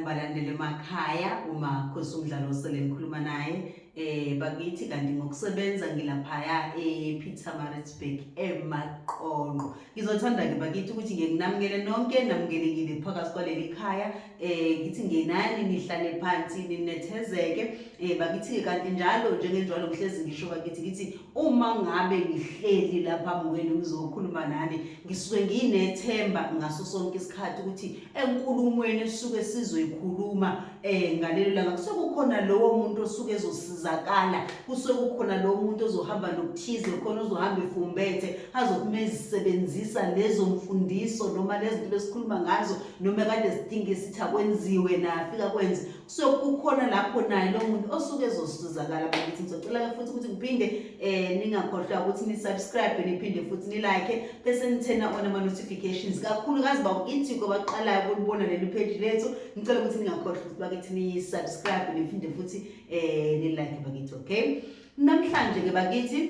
balandele emakhaya uma khosi umdlalo osele ngikhuluma naye eh bakithi kanti ngokusebenza ngilaphaya ePeter Maritzburg emaqonqo ngizothanda ke bakithi ukuthi ngiye nginamukele nonke namukelekile phakathi kwaleli khaya eh ngithi ngenani nihlale phansi ninethezeke eh bakithi kanti njalo njengenjalo ngihlezi ngisho bakithi ngithi uma ngabe ngihleli lapha kwenu ngizokhuluma nani ngisuke nginethemba ngaso sonke isikhathi ukuthi enkulumweni esuke sizoyikhuluma eh ngalelo langa kusuke kukhona lowo muntu osuke ezosizakala kusuke kukhona lowo muntu ozohamba nokuthize khona ozohamba efumbethe azokumezisebenzisa lezo mfundiso noma lezinto esikhuluma ngazo noma kade sidinga isithi akwenziwe na afika kwenze so kukhona lapho naye lo muntu osuke ezosizakala bakithi ngizocela-ke futhi ukuthi ngiphinde um ningakhohlwa ukuthi ni-subscribe niphinde futhi ni-like bese nithena ona ama-notifications kakhulukazi bawuithiko baqalayo kulibona leli pheji lethu ngicela ukuthi ningakhohlwa ukuthi bakithi ni-subscribe niphinde futhi um ni-like bakithi okay namhlanje-ke bakithi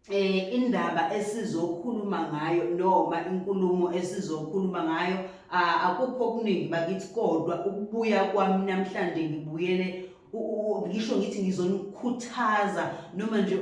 eh indaba esizokhuluma ngayo noma inkulumo esizokhuluma ngayo akukho okuningi bakithi kodwa ukubuya kwami namhlanje ngibuyele ngisho ngithi ngizonikhuthaza noma nje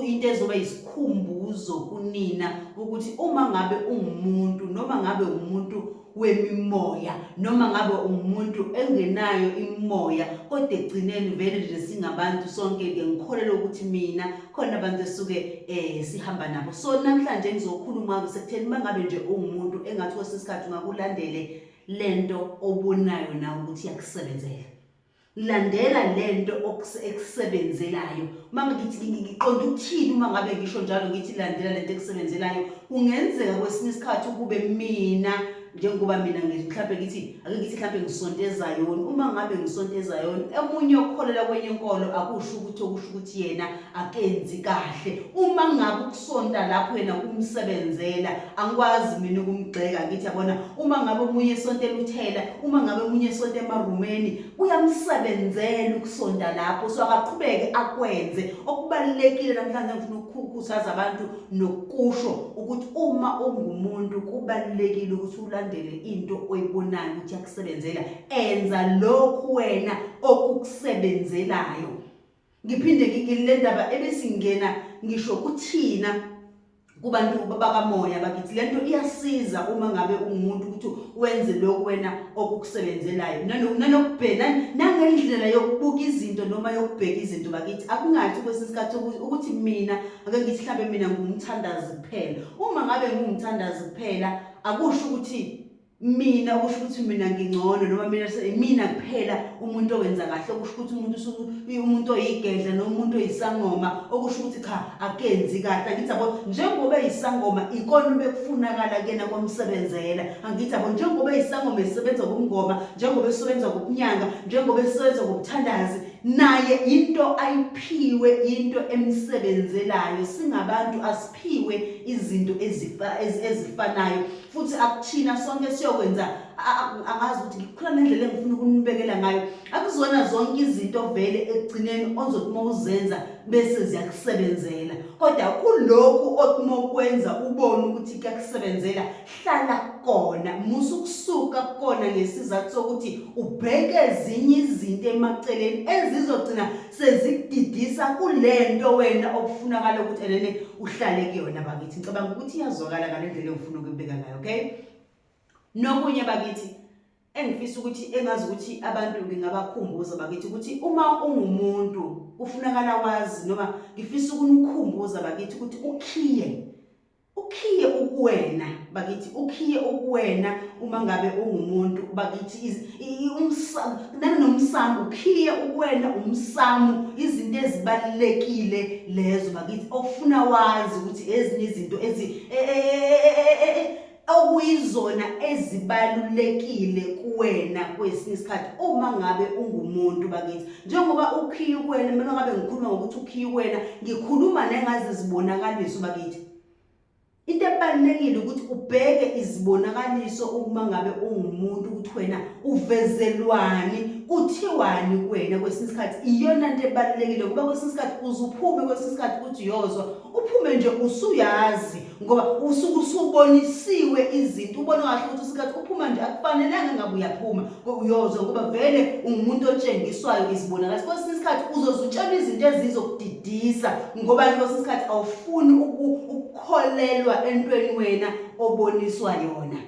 into ezoba yisikhumbuzo kunina ukuthi uma ngabe ungumuntu noma ngabe umuntu wemimoya noma ngabe ungumuntu engenayo imimoya kodwa ekugcineni vele nje singabantu sonke-ke ngikholelwa ukuthi mina khona abantu esuke um sihamba nabo so namhlanje ngizokhuluma-ke sekutheni uma ngabe nje ungumuntu engathi kwesinye isikhathi ungakulandele le nto obonayo nawe ukuthi iyakusebenzela Landela lento ekusebenzelayo. Mama ngithi ngiqonda ukuthini uma ngabe ngisho njalo ngithi landela lento ekusebenzelayo. Kungenzeka kwesinye isikhathi ukube mina njengoba mina mhlawumbe ngithi ake ngithi mhlawumbe ngisonta ezayoni uma ngabe ngisonta ezayoni omunye okholelwa kwenye inkolo akusho ukuthi okusho ukuthi yena akenzi kahle uma ngabe ukusonta lapho yena kumsebenzela angikwazi mina ukumgxeka ngithi yabona uma ngabe omunye esonta eluthela uma ngabe omunye esonta emarumeni kuyamsebenzela ukusonta lapho so akaqhubeke akwenze okubalulekile namhlanje ngifuna ukukhuthaza abantu nokusho ukuthi uma ungumuntu kubalulekile ukuthi ulandele into oyibonayo ukuthi yakusebenzela enza lokhu wena okukusebenzelayo ngiphinde ngingile ndaba ebesingena ngisho kuthina kubantu bakamoya bakithi lento iyasiza uma ngabe ungumuntu ukuthi wenze lokho wena okukusebenzelayo nanokubhena nangendlela yokubuka izinto noma yokubheka izinto bakithi akungathi kwesinye isikhathi ukuthi mina ake ngithi mhlawumbe mina ngumthandazi kuphela uma ngabe ngumthandazi kuphela akusho ukuthi mina okusho ukuthi mina ngingcono noma mina imina kuphela umuntu owenza kahle okusho ukuthi umuntu usuku umuntu oyigedla noma umuntu oyisangoma okusho ukuthi cha akenzi kahle angithi abo njengoba eyisangoma ikona ubekufunakala kuyena komsebenzela angithi abo njengoba eyisangoma esebenza kumngoma njengoba esebenza kubunyanga njengoba esebenza kubuthandazi naye into ayiphiwe into emsebenzelayo singabantu asiphiwe izinto ezifanayo futhi akuthina sonke siyokwenza angazi ukuthi ngikhula nendlela engifuna ukunibekela ngayo akuzona zonke izinto vele ekugcineni ozothi uma uzenza bese ziyakusebenzela kodwa kulokhu othi uma ukwenza ubone ukuthi kuyakusebenzela hlala kona musa ukusuka kona ngesizathu sokuthi ubheke ezinye izinto emaceleni ezizogcina sezikudidisa kulento wena okufunakala ukuthi elene uhlale kuyona bakithi ngicabanga ukuthi iyazwakala ngalendlela engifuna ukubeka ngayo okay nokunye bakithi engifisa ukuthi engazi ukuthi abantu ngingabakhumbuza bakithi ukuthi uma ungumuntu kufunakala wazi noma ngifisa ukunikhumbuza bakithi ukuthi ukhiye ukhiye ukuwena bakithi ukhiye ukuwena uma ngabe ungumuntu bakithi nanomsamo ukhiye ukuwena umsamo izinto ezibalulekile lezo bakithi okufuna wazi ukuthi ezinye izinto ezi e, e, e, okuyizona ezibalulekile kuwena kwesinye isikhathi uma ngabe ungumuntu bakithi njengoba ukhiye ukwena mina ngabe ngikhuluma ngokuthi ukhiye ukwena ngikhuluma nengazi zibonakaliso bakithi into ebalulekile ukuthi ubheke izibonakaliso uma ngabe ungumuntu ukuthi wena uvezelwani kuthiwani kuwena kwesinye isikhathi iyona nto ebalulekile kuba kwesinye isikhathi uzuphume kwesinye isikhathi uthi uyozwa uphume nje usuyazi ngoba usuke usubonisiwe izinto ubona kahle ukuthi usikhathi uphuma nje akufanelanga ngabe uyaphuma uyoze ngoba vele ungumuntu otshengiswayo izibonakaliso kwesinye isikhathi uzoze utshelwe izinto ezizokudidisa ngoba kwesinye isikhathi awufuni ukukholelwa entweni wena oboniswa yona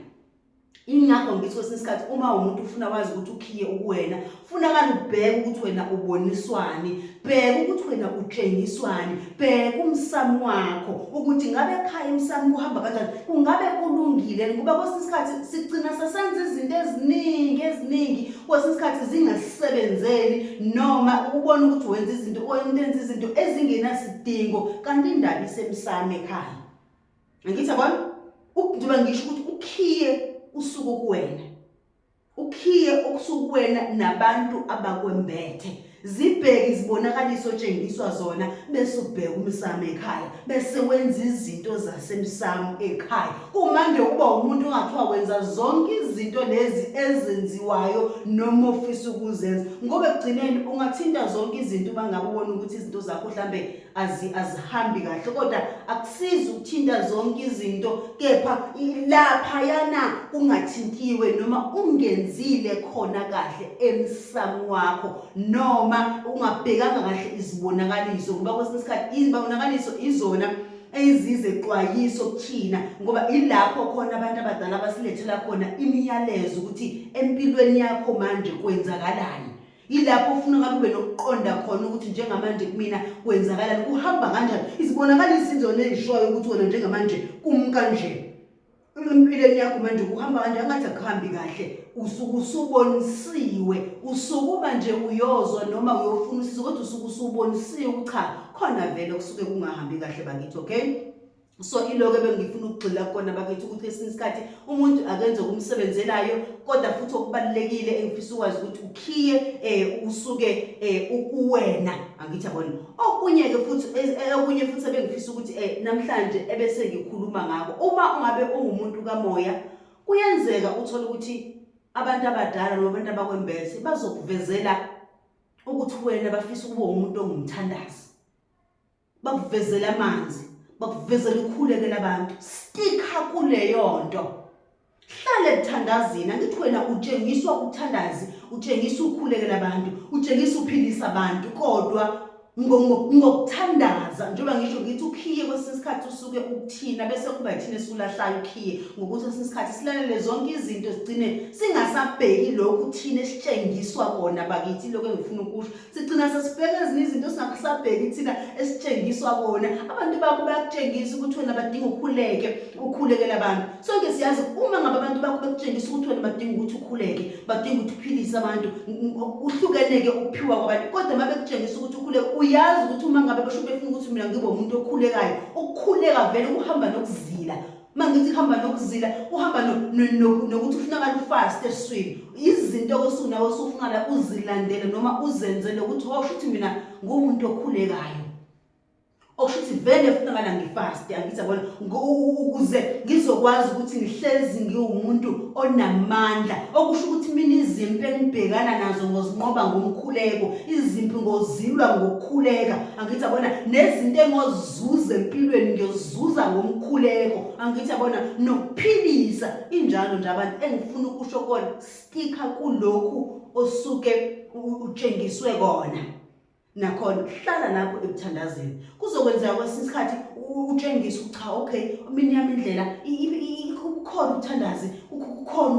ingakho ngithi kwesinye isikhathi uma umuntu ufuna wazi ukuthi ukhiye ukuwena funakala ubheke ukuthi wena uboniswani bheka ukuthi wena utshengiswani bheka umsamo wakho ukuthi ngabe ekhaya umsamo kuhamba kanjani kungabe kulungile ngoba kwesinye isikhathi sigcina sesenza izinto eziningi eziningi kwesinye isikhathi zingasebenzeli noma ubona ukuthi wenza izinto oyenza izinto ezingenasidingo kanti indaba isemsamo ekhaya Angithi yabona njengoba ngisho ukuthi ukhiye usuku kuwena ukhiye okusuku kuwena nabantu abakwembethe zibheke izibonakaliso otshengiswa zona bese ubheka umsamo ekhaya bese wenza izinto zasemsamo ekhaya uma nje uba umuntu ongathiwa wenza zonke izinto lezi ezenziwayo noma ofisa ukuzenza ngoba ekugcineni ungathinta zonke izinto uma ngabe ubona ukuthi izinto zakho mhlambe azihambi kahle kodwa akusizi ukuthinta zonke izinto kepha laphayana kungathintiwe noma ungenzile khona kahle emsamo wakho noma ungabhekanga kahle izibonakaliso ngoba kwesinye isikhathi izibonakaliso izona ezize xwayiso kuthina ngoba ilapho khona abantu abadala abasilethela khona imiyalezo ukuthi empilweni yakho manje kwenzakalani yilapho ufuna ngabe ube nokuqonda khona ukuthi njengamanje kumina kwenzakalani kuhamba kanjani izibonakala izinzona ezishoyo ukuthi wena njengamanje kumkanje empilweni yakho manje kuhamba kanjani ngathi akuhambi kahle usuke usubonisiwe usukuba nje uyozwa noma uyofuna usizo kodwa usuke usubonisiwe ukuthi cha khona vele kusuke kungahambi kahle bakithi okay so iloko ebengifuna ukugxila kukona bakithi ukuthi esinye isikhathi umuntu akenze okumsebenzelayo kodwa futhi okubalulekile engifisa ukwazi ukuthi ukhiye um usuke um ukuwena angithi abona okunye-ke futhi e, e, okunye futhi ebengifisa ukuthi um namhlanje ebese ngikhuluma ngako uma ungabe ungumuntu kamoya kuyenzeka uthole ukuthi abantu abadala noma abantu abakwembese bazokuvezela ukuthi wena bafisa ukuba umuntu ongumthandazi bakuvezela amanzi bakuvezela ukhulekela abantu stika kuleyonto hlale kuthandazini angithi wena utshengiswa ukuthandazi utshengisa ukhulekela abantu utshengisa uphilisa abantu kodwa ngokuthandaza njengoba ngisho ngithi ukhiye kwesinye isikhathi usuke ukuthina bese kuba yithina esulahlayo ukhiye ngokuthi kwesinye isikhathi silalele zonke izinto zigcine singasabheki lokhu thina esitshengiswa kona bakithi lokho engifuna ukusho sigcina sesibheka ezinye izinto singakusabheki thina esitshengiswa kona abantu bakho bayakutshengisa ukuthi wena badinga ukhuleke ukhulekele abantu sonke siyazi uma ngabe abantu bakho bekutshengisa ukuthi wena badinga ukuthi ukhuleke badinga ukuthi uphilise abantu uhlukeneke ukuphiwa kwabantu kodwa uma bekutshengisa ukuthi ukhuleke uyazi ukuthi uma ngabe besho befuna ukuthi mina ngibe umuntu okhulekayo ukukhuleka vele ukuhamba nokuzila uma ngithi kuhamba nokuzila uhamba nokuthi ufuna kalufast eswini izinto kosuku nawe usufuna uzilandele noma uzenzele ukuthi hosho ukuthi mina ngumuntu okhulekayo okusho ukuthi vele funa ngala ngifast angithi yabona ukuze ngizokwazi ukuthi ngihlezi ngiwumuntu onamandla okusho ukuthi mina izimpi engibhekana nazo ngozinqoba ngomkhuleko izimpi ngozilwa ngokukhuleka angithi yabona nezinto engoz zuza empilweni ngiyozuza ngomkhuleko angithi yabona nokuphilisa injalo nje abantu engifuna ukusho kona stika kulokhu osuke utshengiswe kona nakhona hlala lapho ekuthandazeni kuzokwenzeka kwesinye isikhathi utshengise ukuthi cha okay mina yami indlela ukhona ukuthandazi ukhona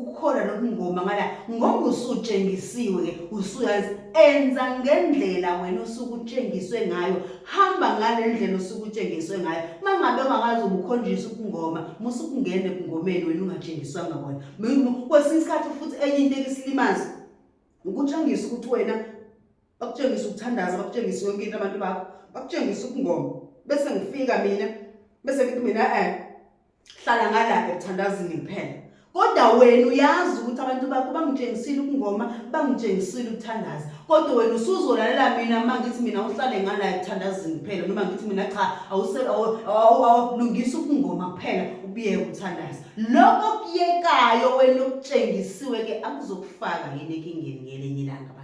ukhona nokungoma ngala ngoba usutshengisiwe ke usuyazi enza ngendlela wena osuke utshengiswe ngayo hamba ngale ndlela osuke utshengiswe ngayo uma ngabe ungakazi ubukhonjiswa ukungoma musa ukungena ekungomeni wena ungatshengiswanga kona kwesinye isikhathi futhi enye into ekisilimazi ukutshengisa ukuthi wena bakutshengisa ukuthandaza bakutshengisa yonke into abantu bakho bakutshengisa ukungoma bese ngifika mina bese ngithi mina um hlala ngala ekuthandazini kuphela kodwa wena uyazi ukuthi abantu bakho bangitshengisile ukungoma bangitshengisile ukuthandaza kodwa wena usuzolalela mina uma ngithi mina uhlale ngala ekuthandazini kuphela noma ngithi mina cha awulungisa ukungoma kuphela ubiyeke ukuthandaza lokho okuyekayo wena okutshengisiwe-ke akuzokufaka yini ekingeni ngelinye ilanga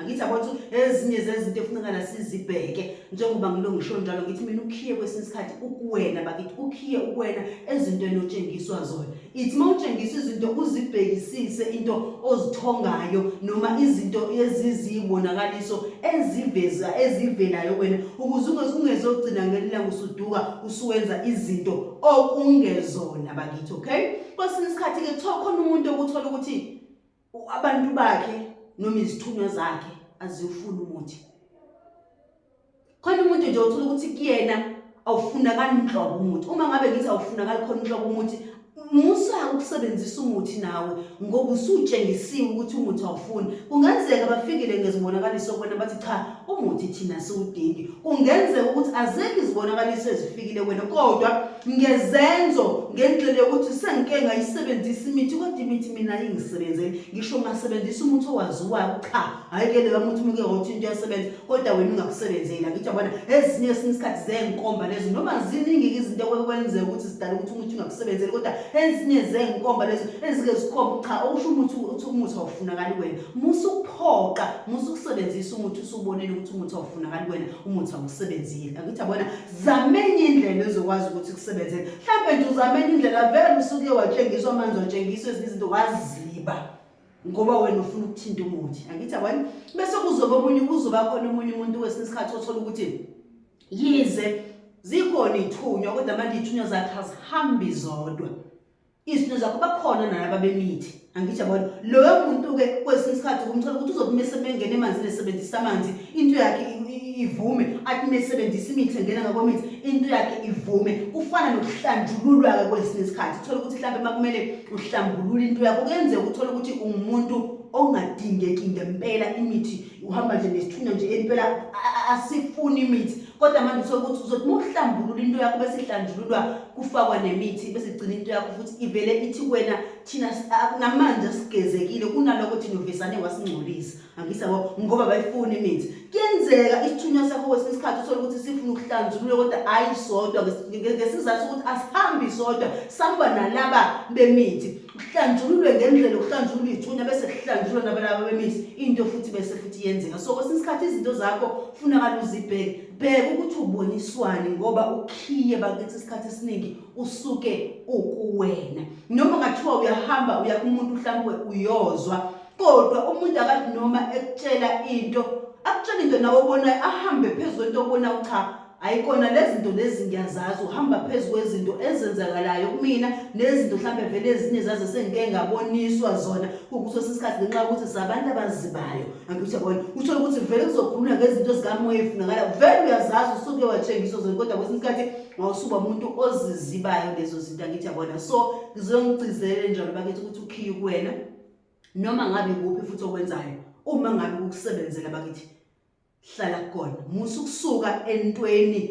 angithi abathi ezinye zezinto efunekala sizibheke njengoba ngilo ngisho njalo ngithi mina ukhiye kwesinye isikhathi ukuwena bakithi ukhiye ukuwena ezintweni otshengiswa zona ithi uma utshengiswa izinto uzibhekisise into ozithongayo noma izinto ezizibonakaliso eziveza ezivelayo wena ukuze ungezogcina ngelilanga usuduka usuwenza izinto okungezona bakithi okay kwesinye isikhathi-ke kuthiwa khona umuntu okuthola ukuthi abantu bakhe noma izithunywa zakhe aziwufuni umuthi khona umuntu nje uthola ukuthi kuyena awufunakali nhlobo umuthi uma ngabe ngithi awufunakali khona nhlobo umuthi musa ukusebenzisa umuthi nawe ngoba usutshengisiwe ukuthi umuthi awufuni kungenzeka bafikile ngezibonakaliso kwena bathi cha umuthi thina siwudingi kungenzeka ukuthi azekho izibonakaliso ezifikile wena kodwa ngezenzo ngendlela yokuthi sengike ngayisebenzisa imithi kodwa imithi mina ingisebenzeli ngisho ngasebenzisa umuthi owaziwayo cha hhayi ke leyo muthi umuke ngokuthi into yasebenza kodwa wena ungakusebenzeli angithi yabona ezinye esinye isikhathi zey'nkomba lezo noma ziningi-ke izinto kwenzeka ukuthi zidala ukuthi umuthi ungakusebenzeli kodwa ezinye zey'nkomba lezo ezike zikhomba cha okusho umuthi uthi umuthi awufunakali wena musa ukuphoqa musa ukusebenzisa umuthi usubonile ukuthi umuthi awufunakali kuwena umuthi awusebenzile angithi abona zamenye indlela ezokwazi ukuthi kusebenzele mhlawumbe nje uzamenye indlela vele usuke watshengiswa amanzi watshengiswa ezinye izinto waziba ngoba wena ufuna ukuthinta umuthi angithi abona bese kuzoba omunye kuzoba khona omunye umuntu wesinye isikhathi othola ukuthi yize zikhona ithunywa kodwa manje ithunywa zakhe azihambi zodwa izinto zakuba khona nalaba bemithi angithi yabona loyo muntu-ke kwesinye isikhathi kumthola ukuthi uzokumese bengena emanzini esebenzisa amanzi into yakhe ivume athi mesebenzisa imithi engena ngakwemithi into yakhe ivume kufana nokuhlanjululwa-ke kwesinye isikhathi uthole ukuthi mhlawumbe uma kumele uhlambulule into yakho kuyenzeka uthole ukuthi ungumuntu ongadingeki ngempela imithi uhamba nje nesithunywa nje impela asifuni imithi kodwa manje uthola ukuthi uzothi uma uhlambulula into yakho bese ihlanjululwa kufakwa nemithi bese igcina into yakho futhi ivele ithi kuwena thina namanje sigezekile kunaloko thina uvesane wasingcolisa angisa bo ngoba bayifuna imithi kuyenzeka isithunywa sakho kwesinye isikhathi uthole ukuthi sifuna ukuhlanjulula kodwa ayi sodwa ngesizathu sokuthi asihambi sodwa samba nalaba bemithi kuhlanjululwe ngendlela okuhlanjulwa iy'thunya bese kuhlanjulwa nabalaba bemizi into futhi bese futhi yenzeka so kwesinye isikhathi izinto zakho funakala uzibheke bheka ukuthi uboniswani ngoba ukhiye bakithi isikhathi esiningi usuke ukuwena noma ngathiwa uyahamba uya kumuntu mhlawumbe uyozwa kodwa umuntu akathi noma ekutshela into akutshela into nawe obonayo ahambe phezu kwento obonayo cha ayikona lezinto lezi ngiyazazi uhamba phezu kwezinto ezenzakalayo kumina nezinto mhlambe vele ezinye zaze sengike ngaboniswa zona kukuso sisikhathi ngenxa ukuthi sabantu abazibayo angithi yabona uthole ukuthi vele kuzokhuluma ngezinto zikamoya efunakala vele uyazazi usuke watshengiswa zona kodwa kwesinye isikhathi wawusuba umuntu ozizibayo lezo zinto angithi yabona so ngizongigcizelele njalo bakithi ukuthi ukhiye kuwena noma ngabe kuphi futhi okwenzayo uma ngabe kukusebenzela bakithi hlala khona musa ukusuka entweni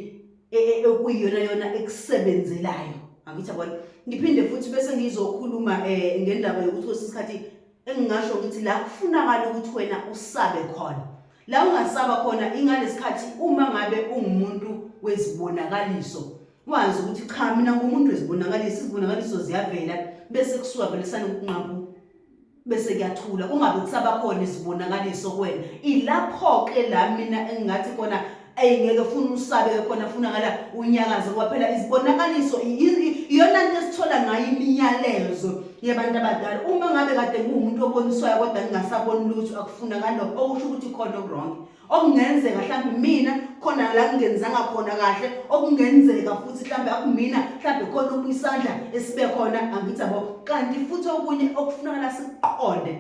e, e, ekuyiyona yona ekusebenzelayo angithi yabona ngiphinde futhi bese ngizokhuluma um ngendaba yokuthi kwesinye isikhathi engingasho ukuthi la kufunakala ukuthi wena usabe khona la ungasaba khona ingalesikhathi uma ngabe ungumuntu wezibonakaliso wazi ukuthi cha mina ngumuntu wezibonakaliso izibonakaliso ziyavela bese kusuka vele sanokungqambu bese kuyathula kungabe kusaba khona izibonakaliso kuwena ilapho-ke la mina engingathi kona eyi ngeke funa usabe-ke khona funakala unyakaze ngoba phela izibonakaliso iyona nto esithola ngayo imiyalezo yebantu abadala uma ngabe kade nguwumuntu oboniswayo kodwa ngingasaboni lutho akufunakali lokho okusho ukuthi khona okuronke okungenzeka mhlawumbe mina khona la kungenzanga khona kahle okungenzeka futhi mhlawumbe akumina mhlawumbe khona okuyisandla esibe khona angithi abo kanti futhi okunye okufunakala sikuqonde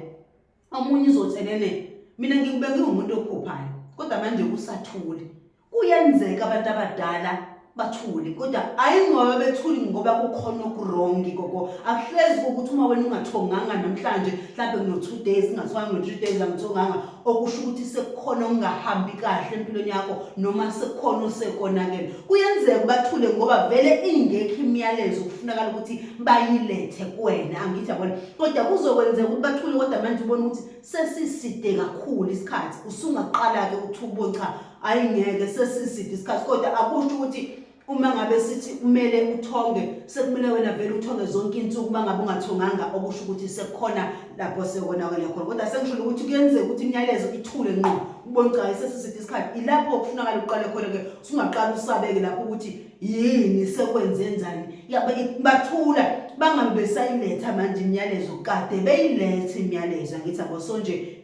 omunye uzothenene mina ngikubeke umuntu okhuphayo kodwa manje kusathule kuyenzeka abantu abadala bathule kodwa hayi ngoba bethuli ngoba kukhona okurongi gogo akuhlezi ukuthi uma wena ungathonganga namhlanje mhlawumbe kuno-two days ungathonganga no-three days angithonganga okusho ukuthi sekukhona okungahambi kahle empilweni yakho noma sekukhona osekonakele kuyenzeka ubathule ngoba vele ingekho imiyalezo kufunakala ukuthi bayilethe kuwena angithi yabona kodwa kuzokwenzeka ukuthi bathule kodwa manje ubona ukuthi sesiside kakhulu isikhathi usungaqala-ke ukuthi ubone cha ayi ngeke sesiside isikhathi kodwa akusho ukuthi uma ngabe sithi kumele uthonge sekumele wena vele uthonge zonke insuku uma ngabe ungathonganga okusho ukuthi sekukhona lapho sekonakele khona kodwa sengisholo ukuthi kuyenzeka ukuthi imiyalezo ithule nqo ubone cha sesiside isikhathi ilapho okufunakala uqale khona-ke usungaqala usabeke lapho ukuthi yini sekwenzenzani yabe bathula bangabe besayiletha manje imiyalezo kade beyilethe imiyalezo angithi aboso nje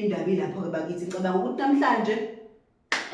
indaba ilapho-ke bakithi ngicabanga ukuthi namhlanje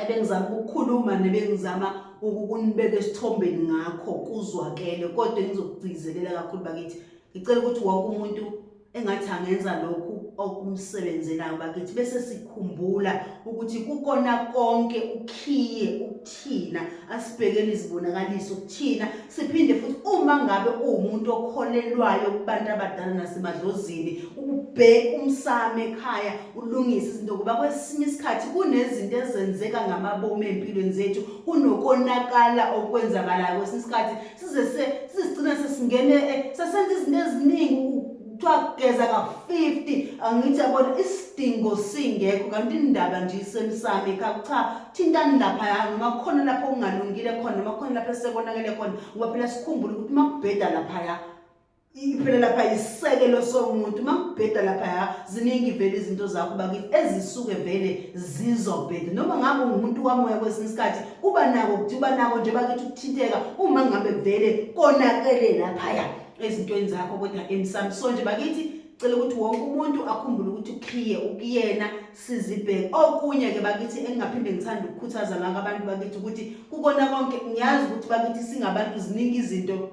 ebengizama ukukhuluma nebengizama ukunibeka esithombeni ngakho kuzwakele kodwa engizokugcizelela kakhulu bakithi ngicela ukuthi wonke umuntu engathi angenza lokhu okumsebenzelayo bakithi bese sikhumbula ukuthi kukona konke ukhiye ukuthina asibhekele izibonakaliso ukuthina siphinde futhi uma ngabe uwumuntu okholelwayo kubantu abadala nasemadlozini ubheke umsamo ekhaya ulungise izinto ngoba kwesinye isikhathi kunezinto ezenzeka ngamabomu empilweni zethu kunokonakala okwenzakalayo kwesinye isikhathi size sisigcina sesingene eh, sesenza izinto eziningi kuthiwa kugeza ka-50 angithi yabona isidingo singekho kanti indaba nje isemsami kha cha thintani laphaya noma khona lapho kungalungile khona noma khona lapho esekonakele khona ngoba phela sikhumbule ukuthi uma kubheda laphaya Iphela lapha yiseke losomuntu makubheda lapha ya ziningi vele izinto zakho bakithi ezisuke vele zizobheda noma ngabe ungumuntu wamoya kwesinye isikhathi uba nako ukuthi uba nako nje bakithi ukuthinteka uma ngabe vele konakele lapha ya ezintweni zakho kodwa emsami so nje bakithi cela ukuthi wonke umuntu akhumbule ukuthi ukhiye ukuyena sizibheke okunye ke bakithi engingaphinde ngithanda ukukhuthaza ngaka abantu bakithi ukuthi kukona konke ngiyazi ukuthi bakithi singabantu ziningi izinto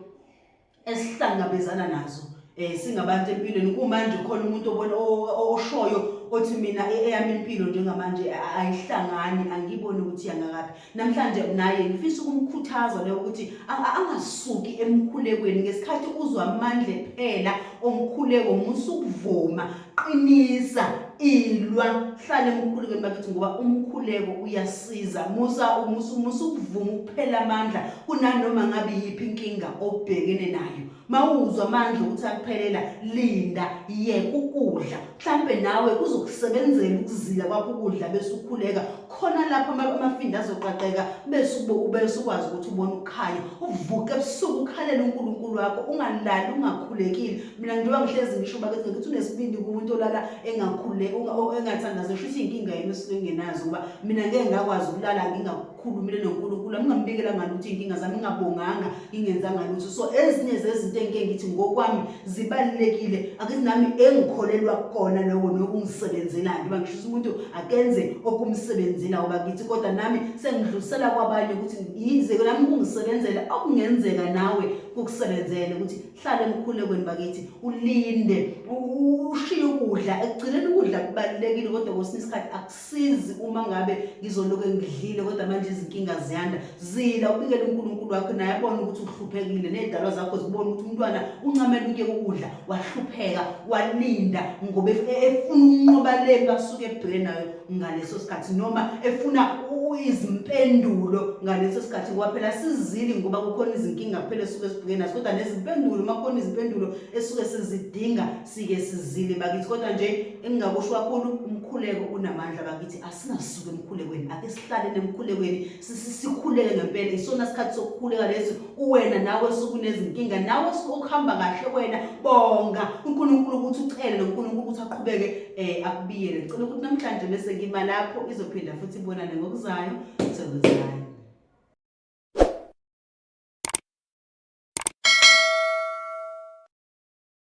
esihlangabezana nazo eh singabantu empilweni kumanje khona umuntu obona oshoyo othi mina e-, eyami impilo njengamanje ayihlangani angiboni ukuthi yangakaphi namhlanje naye ngifisa ukumkhuthaza leyo ukuthi angasuki emkhulekweni ngesikhathi uzwa amandla ephela omkhuleko musa ukuvuma qinisa ilwa hlale emkhulekweni bakithi ngoba umkhuleko uyasiza musa umusa umusa ukuvuma ukuphela amandla kunanoma ngabe yiphi inkinga obhekene nayo mawuzwa amandla ukuthi akuphelela linda yeka ukudla mhlambe nawe kuzokusebenzela ukuzila kwakho ukudla bese ukhuleka khona lapho amafinda azoqaqeka bese ubese ukwazi ukuthi ubone ukukhanya uvuke ebusuku ukhalele uNkulunkulu wakho ungalali ungakhulekile mina njengoba ngihlezi ngisho bakethi ngikuthi unesibindi kumuntu olala engakhule engathandazi ngisho ukuthi inkinga yini esuke ngenazo ngoba mina ngeke ngakwazi ukulala ngingakhulumile noNkulunkulu ngingambikela ngani ukuthi inkinga zami ngingabonganga ingenzanga lutho so ezinye zezinto engike ngithi ngokwami zibalulekile akuthi nami engikholelwa kona lokho nokungisebenzelayo ngiba ngisho ukuthi umuntu akenze okumsebenzela uba kithi kodwa nami sengidlulisela kwabanye ukuthi yize nami kungisebenzela okungenzeka nawe kukusebenzele ukuthi hlale emkhulekweni bakithi ulinde ushiye ukudla ekugcineni ukudla kubalulekile kodwa kwesinye isikhathi sizi uma ngabe ngizoloke ngidlile kodwa manje izinkinga ziyanda zila ubikele uNkulunkulu wakho naye abone ukuthi uhluphekile nezidalwa zakho zibone ukuthi umntwana uncamela uke ukudla wahlupheka walinda ngoba e-, efuna unqoba le basuke ebheke nayo ngaleso sikhathi noma efuna izimpendulo ngaleso sikhathi ngoba phela sizili ngoba kukhona izinkinga kuphela esuke sibheke nazo kodwa nezimpendulo uma kukhona izimpendulo esuke sizidinga sike sizile bakithi kodwa nje engingakusho kakhulu umkhuleko unamandla bakithi asingasuke emkhulekweni ake sihlale nemkhulekweni sikhuleke ngempela isona sikhathi sokukhuleka lesi uwena nawe sukunezinkinga nawe sukuhamba kahle wena bonga uNkulunkulu ukuthi ucele noNkulunkulu ukuthi aqhubeke eh akubiyele ngicela ukuthi namhlanje bese ngima lapho izophinda futhi ibonane ngokuzayo sekuzayo